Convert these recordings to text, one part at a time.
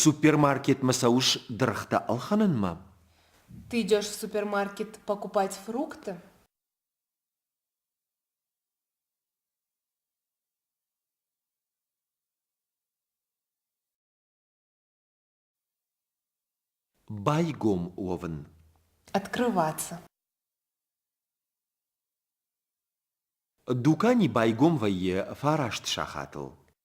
Супермаркетмӕ цӕуыс дыргътӕ ӕлхӕнынмӕ? Ты идешь в супермаркет покупать фрукты? Байгом уӕвын. Открываться. Дукани байгом вӕййы фараст сахатыл.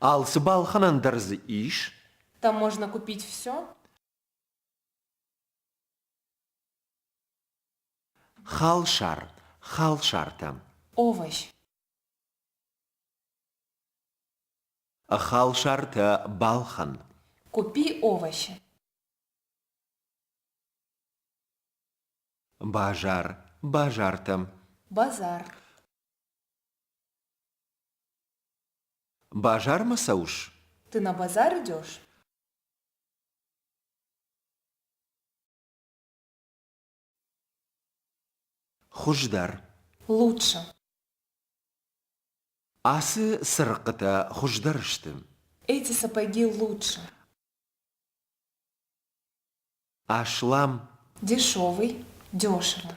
Алцы балхӕнӕн дӕр дзы ис? Там можно купить все? Халсар, халсартӕ. Овощ. Халсартӕ балхӕн. Купи овощи. Базар, базартӕ. Базар. Базармӕ цӕуыс? Ды нӕ базары дёс? Хуыздӕр. Лучше. Ацы цырыхъхъытӕ хуыздӕр сты. Эти сапоги лучше. Аслам. Дешевый, дешевый.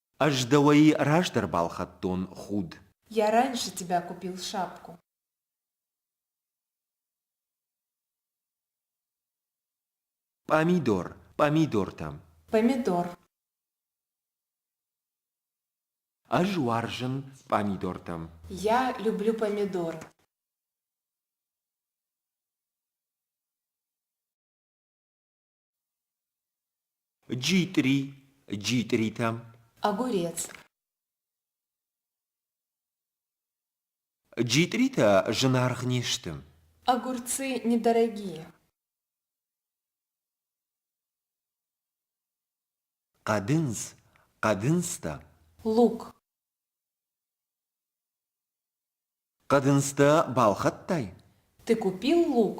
Ӕз дӕуӕй раздӕр балхӕдтон худ. Йӕ раньше тебя купил шапку. Пъамидор, пъамидортӕ. Пъамидор. Ӕз уарзын пъамидортӕ. Я люблю помидор. Джитъри, джитъритӕм. Огурец. Джитъритӕ зынаргъ не сты. Огурцы недорогие. Хъӕдындз, хъӕдындзтӕ. Лук. Хъӕдындзтӕ балхӕдтай? Ты купил лук?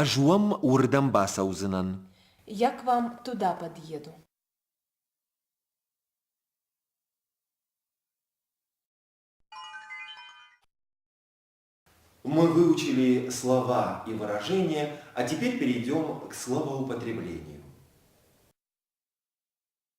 Ӕз уӕм уырдӕм бацӕудзынӕн. Як вам туда подъеду? Мы выучили слова и выражения, а теперь перейдем к словоупотреблению.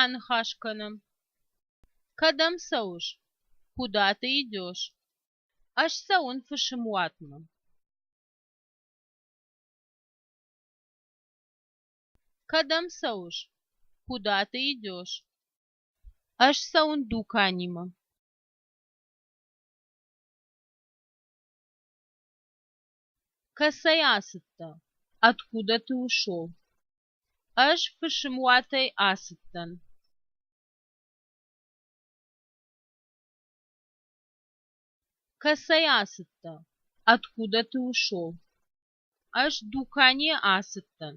Аныхас кӕнӕм. Кӕдӕм цӕуыс? Куда ты идешь? Ӕз цӕуын фысымуатмӕ. Кӕдӕм цӕуыс? Куда ты идешь? Ӕз цӕуын дуканимӕ. Кӕцӕй ацыдтӕ? Откуда ты ушел? Ӕз фысымуатӕй ацыдтӕн. Кӕцӕй ацыдтӕ? Откуда ты ушел? Ӕз дуканийы ацыдтӕн.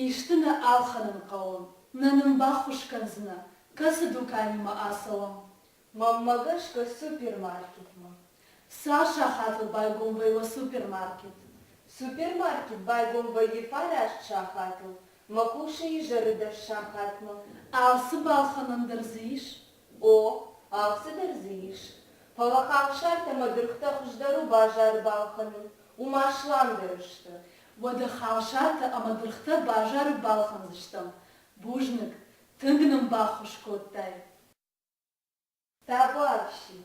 Исты нӕ ӕлхӕнын хъӕуы, нӕ нын баххуыс кӕндзынӕ, кӕцы дуканимӕ ацӕуӕм? Мӕнмӕ гӕсгӕ супермаркетмӕ. Цал сахаты байгомвӕй уӕ супермаркет? Супермаркет байгом вӕййы фараст сахатыл, мӕ къусыйы изӕры дӕс сахатмӕ. Алцы балхӕнӕн дӕр дзы ис, О, алцыдӕр дзы ис. Фӕлӕ халсартӕ ӕмӕ дыргътӕ хуыздӕр у базары балхӕнын, уымӕ сламдӕр сты. Уӕдӕ халсартӕ ӕмӕ дыргътӕ базары балхӕндзыстӕм? Бузныг, тынг нын баххуыс кодтай. Табуафси.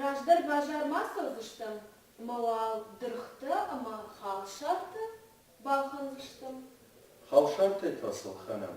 Раздӕр базар ма цӕудзыстӕм, ӕмӕ уал дыргътӕ ӕмӕ халсартӕ балхӕндзыстӕм? Халсартӕй та сыл хӕнӕн.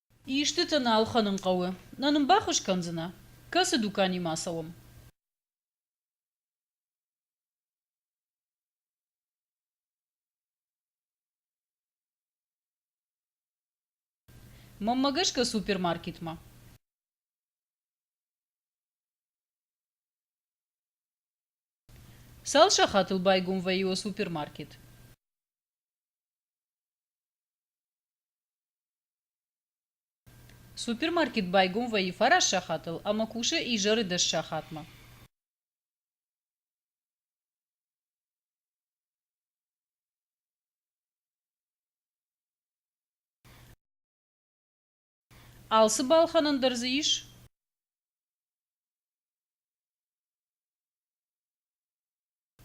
Истытӕ нал хӕнын хъӕуы. Нӕ нын баххуыс кӕндзынӕ? Кӕцы дуканимӕ ацӕуӕм? Маммӕ гӕсгӕ супермаркетмӕ. Цал сахатыл байгом вӕййы супермаркет? Супермаркет байгом вӕййы фараст сахатыл ӕмӕ кусы изӕры дӕс сахатмӕ. Алцы балхӕнӕн дӕр дзы ис?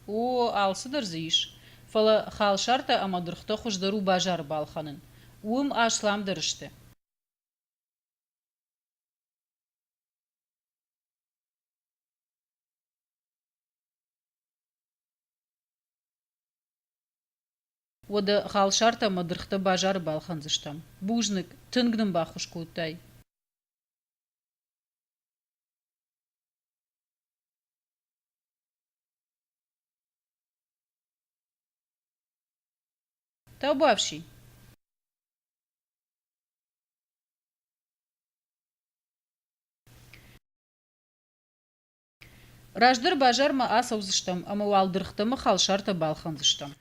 О, алцыдӕр дзы ис. Фӕлӕ халсартӕ ӕмӕ дыргътӕ хуыздӕр у базары балхӕнын. Уым Аслам дӕр сты. Уӕдӕ халсартӕ ӕмӕ дыргътӕ базары балхӕндзыстӕм. Бузныг, тынг нын баххуыс кодтай. Tev bovši! Раздӕр базармӕ ацӕудзыстӕм ӕмӕ уӕлдыргътӕм халсартӕ балхӕндзыстӕм.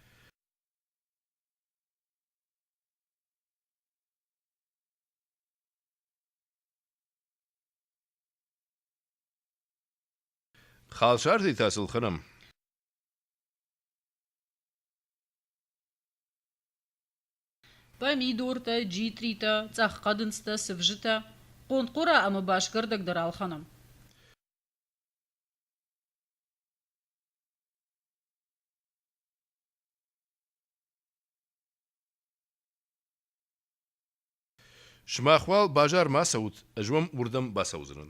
Халсӕрдитӕ сыл хӕрӕм. Пъӕмидортӕ, джитритӕ, цъӕххъӕдындзтӕ, сывзытӕ, хъонхъора ӕмӕ басгӕрдӕг дӕр алхӕнӕм. Сымах уал базар ма цӕут, ӕз уӕм уырдӕм бацӕудзынӕн.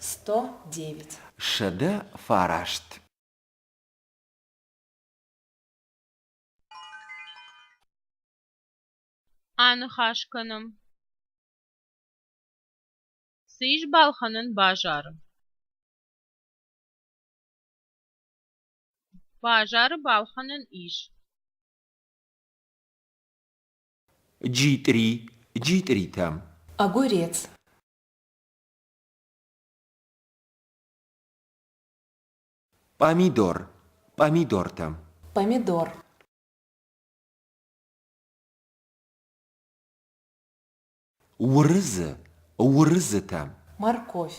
сто девять сӕдӕ фараст аныхас кӕнӕм цы ис балхӕнӕн базары базары балхӕнӕн ис Джитъри, джитъритӕ. Огурец. Пъамидор, пъамидортӕ. Помидор. Уырызы, уырызытӕ. Морковь.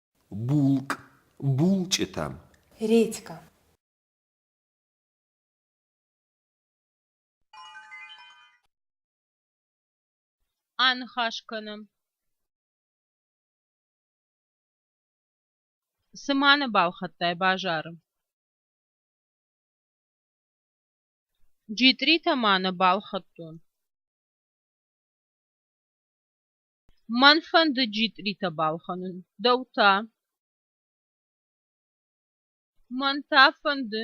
булкъ булчъытӕм редька аныхас кӕнӕм сыманы балхӕдтай базары джитъритӕ ма нӕ балхӕдтон Мӕн фӕнды джитъритӕ балхӕнын. Дӕу та? Мӕн та фӕнды.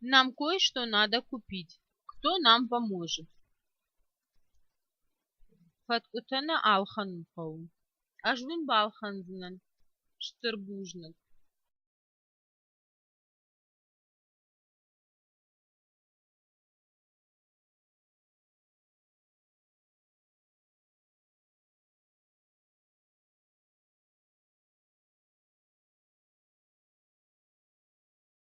Нам кое-что надо купить. Кто нам поможет? Фӕткъуытӕ нӕ ӕлхӕнын хъӕуы. Ӕз уын балхӕндзынӕн стыр бузныг.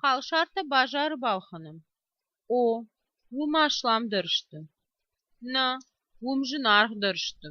халсартӕ базары балхӕнӕм о уым аслам дӕр сты нӕ уым зынаргъ дӕр сты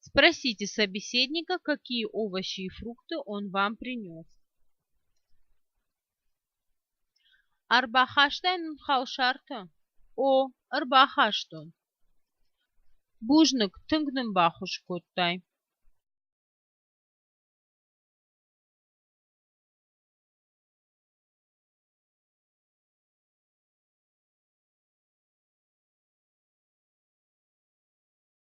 спросите собеседника какие овощи и фрукты он вам принес ӕрбахастайнын халсартӕ о ӕрбахастон бузныг тынг нын баххуыс кодтай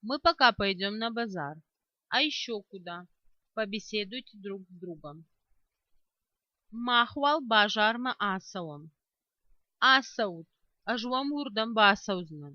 Мы пока пойдем на базар, а еще куда, побеседуйте друг с другом. Махуал базармӕ ацӕуӕм. Ацӕут, ӕз уӕм уырдӕм бацӕудзынӕн.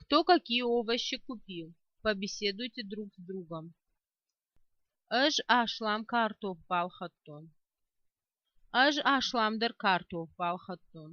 кто какие овощи купил побеседуйте друг с другом ӕз аслам картоф балхӕдтон ӕз аслам дӕр картоф балхӕдтон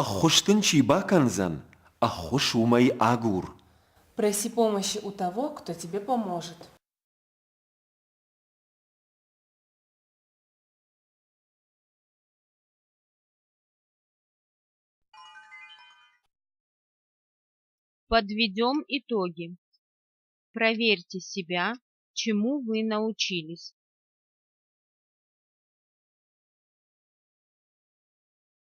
Ӕххуыс дын чи бакӕндзӕн, ӕххуыс уымӕй агур. Проси помощи у того, кто тебе поможет. Подведем итоги. Проверьте себя, чему вы научились.